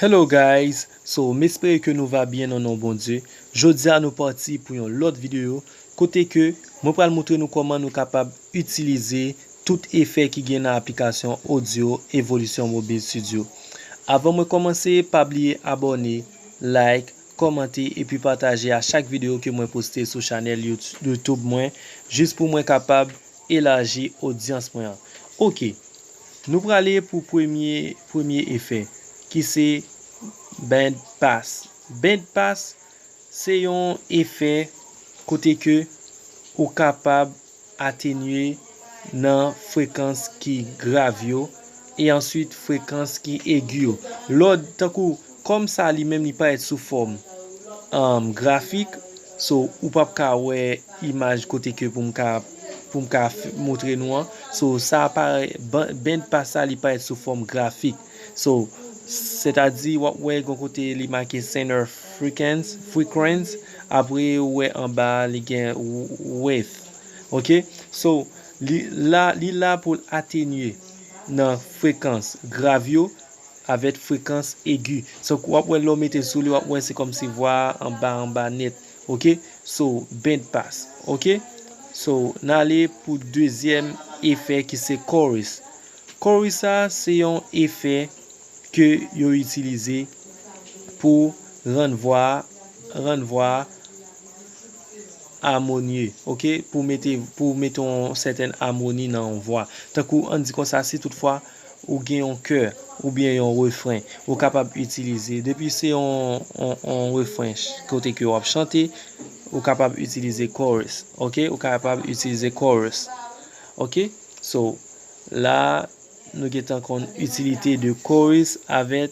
Hello guys so m espere ke nou va byen nan non Bondye jodia nou pati pou yon lòt video kote ke mwen pral moutre nou kòman nou kapab itilize tout efè ki gen nan aplikasyon audio evolution mobile studio avan mwen kòmanse pa bliye abòne like kòmante epi pataje a chak video ke mwen poste sou chanèl youtube mwen jis pou mwen kapab elaji odyans mwen ok. Nou prale pou premye premye efè ki se band pass. Band pass se yon efè kote ke ou kapab atenye nan frekans ki grav yo e answit frekans ki egi yo. Lòd tankou. Kòm sa li menm li parèt sou fòm um grafik so ou pap ka wè imaj kote ke pou m ka pou m ka moutre nou an so sa parè band pas sa li parèt sou fòm grafik so sètadi wap wè gon kote li make center frequency frequency apre ou wè anba a li gen width ok so li la li la pou l atenye nan frekans grav yo avèk frekans egi so wap wè lèw metel souli wap wè se kòmsi vwa a anba anba nèt ok so band pass ok so nale pou dezyèm efè ki se chorus chorus sa se yon efè ke yo itilize pou rann vwa a rann vwa a amonye ok pou mete pou mete yon sètèn amoni nan yon vwa tankou an di konsa si tout fwa. Ou gen yon kè oubyen yon refren ou kapab itilize depi se yon refren kote ke wap chante ou kapab itilize chorus ok ou kapab itilize chorus ok so la nou gentan konn itilite de chorus avèk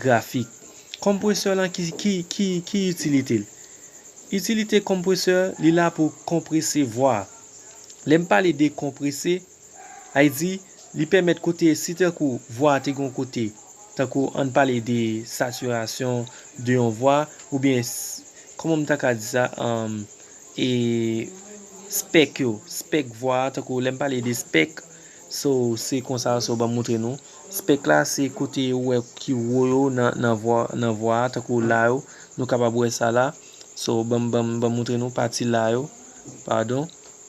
Grafik, Konpresè lan ki ki ki ki itilite l? Itilite konpresè, li la pou konprese vwa. Lè m pale de konprese, ay di, li pèmèt kote si tankou vwa te gen yon kote, tankou an n pale de satirasyon de yon vwa oubyen kòman m ta ka di sa anm e spèk yo, spèk vwa a tankou lè m pale de spèk. So se konsa so banm moutre nou. Spek la se kote ou wè ki wo yo nan vwa a tankou la yo nou kapab wè sa la so banm banm moutre nou pati la yo padon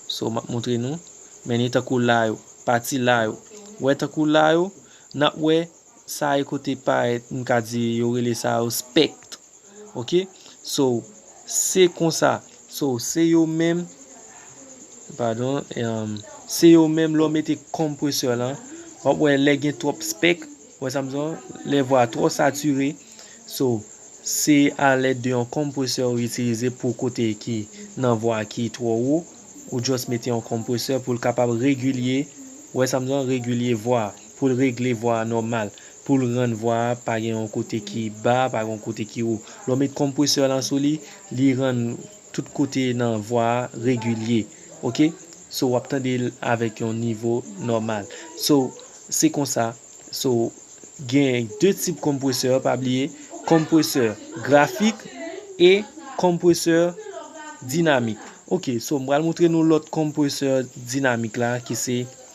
so map moutre nou men ni tankou la yo pati la yo wè tankou la yo nap wè Sa e kote parèt m ka di yo rele sa yo spectre ok so se konsa so se yo menm padon se yo menm lè w mete compressor lan wap wè lè gen twòp spectre ou wè sa m di w lè vwa twò sature so se a lèd de yon compressor ou itilize pou kote ki nan vwa ki twò wo ou just mete yon compressor pou l kapab regilye ou wè sa m di w regilye vwa. pou l regle vwa a nòmal, pou l rann vwa a pa gen yon kote ki ba, pa gen yon kote ki wo. Lè w met konpresè lan sou li, li rann tout kote nan vwa a regilye. Ok. So w ap tande l avèk yon nivo nòmal. So, se konsa. So, gen de tip konpresè, pa bliye, konpresè grafik e konpresè dinamik. Ok. So, m pral montre nou lòt konpresè dinamik la ki se.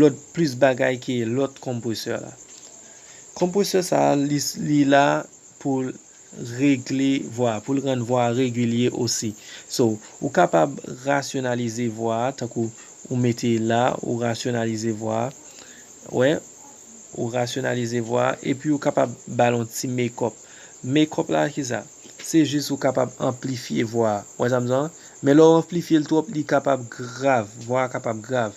lòt plis bagay ke lòt konpresè la. Konpresè sa a li la pou l regle vwa, pou l rann vwa a regilye osi. So, ou kapab rasyonalize vwa a tankou ou mete l la, ou rasyonalize vwa a, wè, ou rasyonalize vwa a, epi ou kapab ba l yon ti mekòp. Mekòp la ki sa? Se jis ou kapab anplifye vwa a. Wè sa m di w la? Men lè w anplifye l twòp li kapab grav, vwa a kapab grav.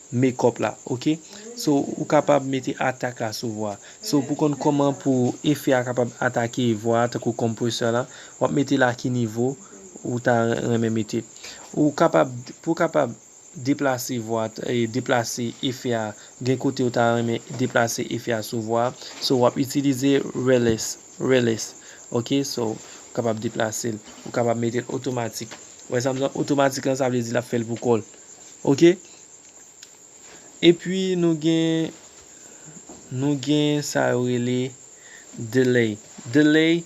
makeup la ok so ou kapab mete atak la sou vwa so pou konn koman pou efè a kapab atake vwa a tankou compressor la wap metel a ki nivo ou ta renmen mete ou kapab pou kapab deplase vwa deplase efè a gen kote ou ta renmen deplase efè a sou vwa so wap itilize release release ok so ou kapab deplase ou kapab metel otomatik ou wè sam zan otomatik lan sa vle di lap fèl pou kòl. Ok Epi nou gen Nou gen sa yo rele Delay Delay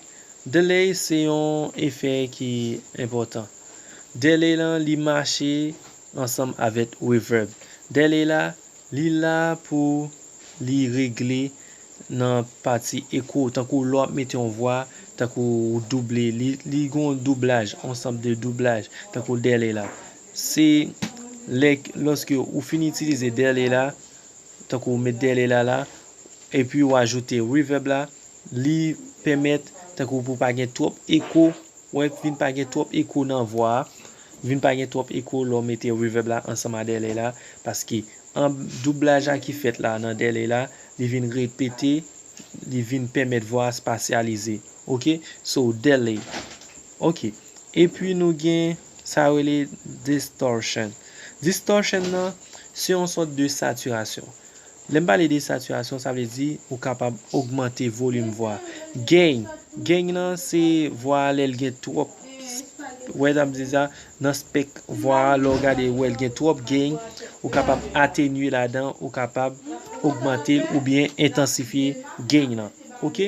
Delay se yon efè ki enpòtan Delay la li mache ansanm avèk Reverb Delay la li la pou li regle nan pati Echo Tankou lè w ap mete yon vwa Tankou ou double li Li gen yon doublaj Yon sòt de doublaj Tankou Delay la Se lè lòske ou fin itilize delay la, tankou ou met delay la la, epi ou ajoute reverb la, li pèmèt tankou pou pa gen twòp eko, wè vin pa gen twòp eko nan vwa a, vin pa gen twòp eko lè w mete reverb la ansanm a delay la, paske an doublaj la ki fèt la nan delay la, li vin repete, li vin pèmèt vwa a spasyalize. Ok, so delay. Ok, epi nou gen. Sa yo rele distortion. Distortion nan, se yon sòt de satirasyon. Lè m pale de satirasyon, sa vle di ou kapab ogmante volim vwa. Gain, gain nan se vwa a lè l gen twòp, wè sa m di sa, nan spek vwa a lè w gade ou wè l gen twòp gain, ou kapab atenye ladan, ou kapab ogmante l oubyen entansifye gain nan. Ok.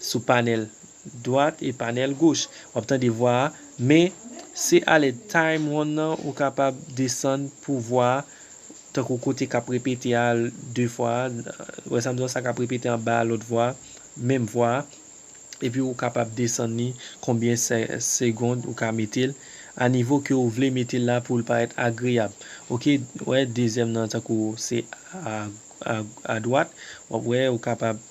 Sou panèl dwat e panèl goch wap tande vwa a men se alè time one nan ou kapab desann pou vwa a tankou kote kap repete a 2 fwa a wè sam di w sa kap repete anba a lòt vwa a menm vwa a epi ou kapab desann li konbyen segond ou ka mete l a nivo ke ou vle mete l la pou l parèt agreyab ok wè dezyèm nan tankou se a dwat wap wè ou kapab.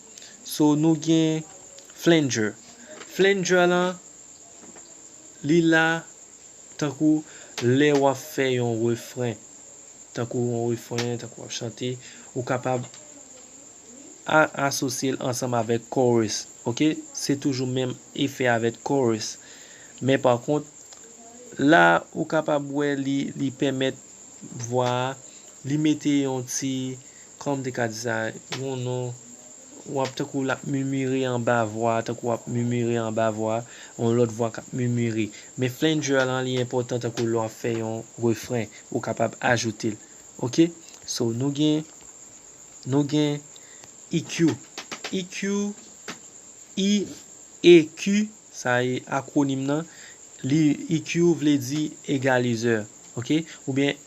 So nou gen flanger. Flanger lan li la tankou lè wap fè yon refren. Tankou yon refren, tankou wap chante. Ou kapab asosye l ansanm avèk chorus. Ok, se toujou menm efè avèk chorus. Men pa kont, la ou kapab wè li pèmèt vwa a, li mete yon ti Kòman m te ka di sa? Yon non w ap tankou l ap mimire anba vwa a, tankou w ap mimire anba vwa a, yon lòt vwa k ap mimire. Men flanger lan li enpòtan tankou lè w ap fè yon refren, ou kapab ajoute l. Ok? So, nou gen, nou gen EQ. EQ, i, e, ki, sa e akwonim lan. Li, EQ vle di egalizè. Ok? Oubyen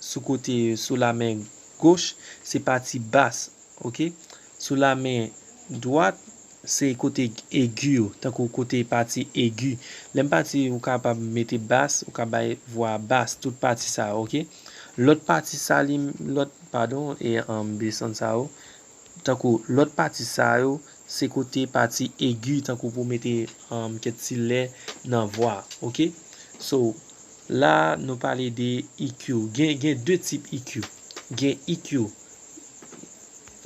sou kote yo sou la men goch se pati bas ok sou la men dwat se kote egi yo tankou kote pati egi lèm pati ou kapab mete bas ou ka bay vwa bas tout pati sa ok lòt pati sa li lòt padon e anm desann sa yo tankou lòt pati sa yo se kote pati egi tankou pou mete anm kèt ti lè nan vwa ok so La a nou pale de EQ. Gen gen 2 tip EQ. Gen EQ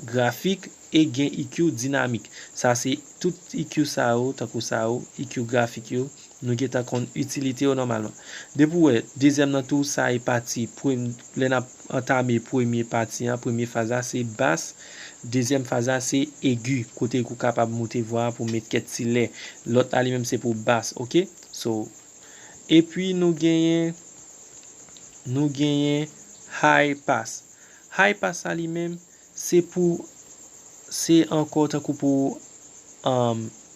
grafik e gen EQ dinamik. Sa se tout EQ sa yo tankou sa yo, EQ grafik yo, nou gen tan konn itilite yo nòmalman. Depi w wè dezyèm nan tou sa e pati prem lè n ap antame premye pati an, premye faz la se bas, dezyèm faz la se egi kote ou kapab moute vwa a pou met kèk ti lè. Lòt la li menm se pou bas ok. So. Epi nou genyen nou genyen High Pass. High Pass sa li menm se pou se ankò tankou pou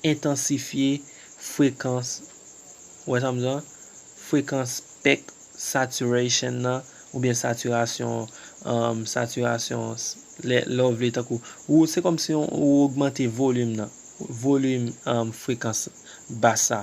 entansifye frekans ou wè sa m di lan, frekans spek saturation nan oubyen satirasyon satirasyon lè w vle tankou ou se kòm si ou ogmante volim nan volim frekans bas sa.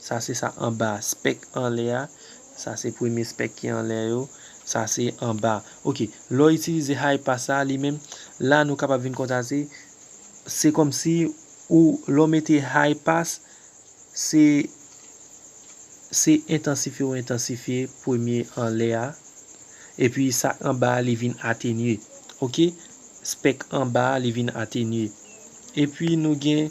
Sa se sa anba a. Spèk anlè a. Sa se premye spèk ki anlè yo. Sa se anba a. Ok. Lè w itilize high pass sa a li menm, la nou kapab vin konstate, se kòmsi ou lè w mete high pass, se se entansifye ou entansifye premye anlè a. Epi sa k anba a li vin atenye. Ok. Spèk anba a li vin atenye. Epi nou gen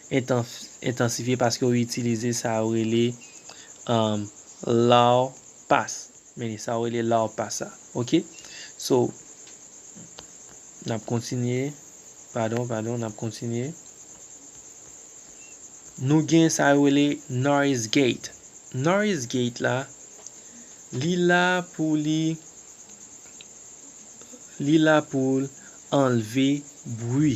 entansifye paske yo itilize sa yo rele law pas meni sa yo rele law pas a ok so nap kontinye padon padon nap kontinye nou gen sa yo rele noise gate noise gate la li la pou li li la poul anlve bwi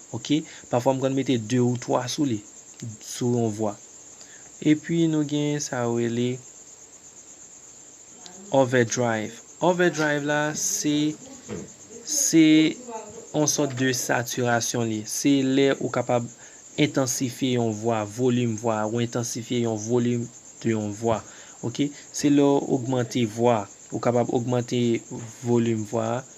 Ok pafwa m konn mete 2 ou 3 sou li sou yon vwa epi nou gen sa yo rele overdrive overdrive la se se yon sòt de satirasyon li se lè ou kapab entansifye yon vwa volim vwa ou entansifye yon volim de yon vwa ok se lè ou ogmante vwa ou kapab ogmante volim vwa a.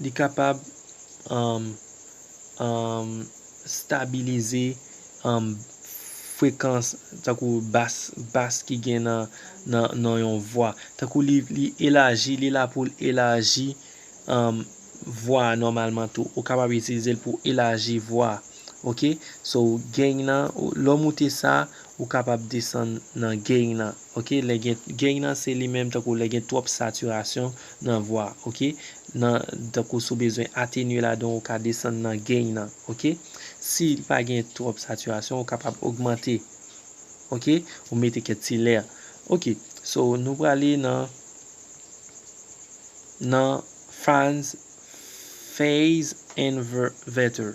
Li kapab um um stabilize um frekans tankou bas bas ki gen nan nan nan yon vwa. Tankou li li elaji, li la pou l elaji um vwa a nòmalman tou. Ou kapab itilize l pou w elaji vwa. Ok, so gain nan, lè w moute sa, ou kapab desann nan gain nan. Ok lè gen gain nan se li menm tankou lè gen twòp saturation nan vwa ok nan tankou si w bezwen atenye ladan w ka desann nan gain nan ok si li pa gen twòp saturation ou kapab ogmante ok ou mete kèk ti lè ok so nou prale nan nan fans phase inverter.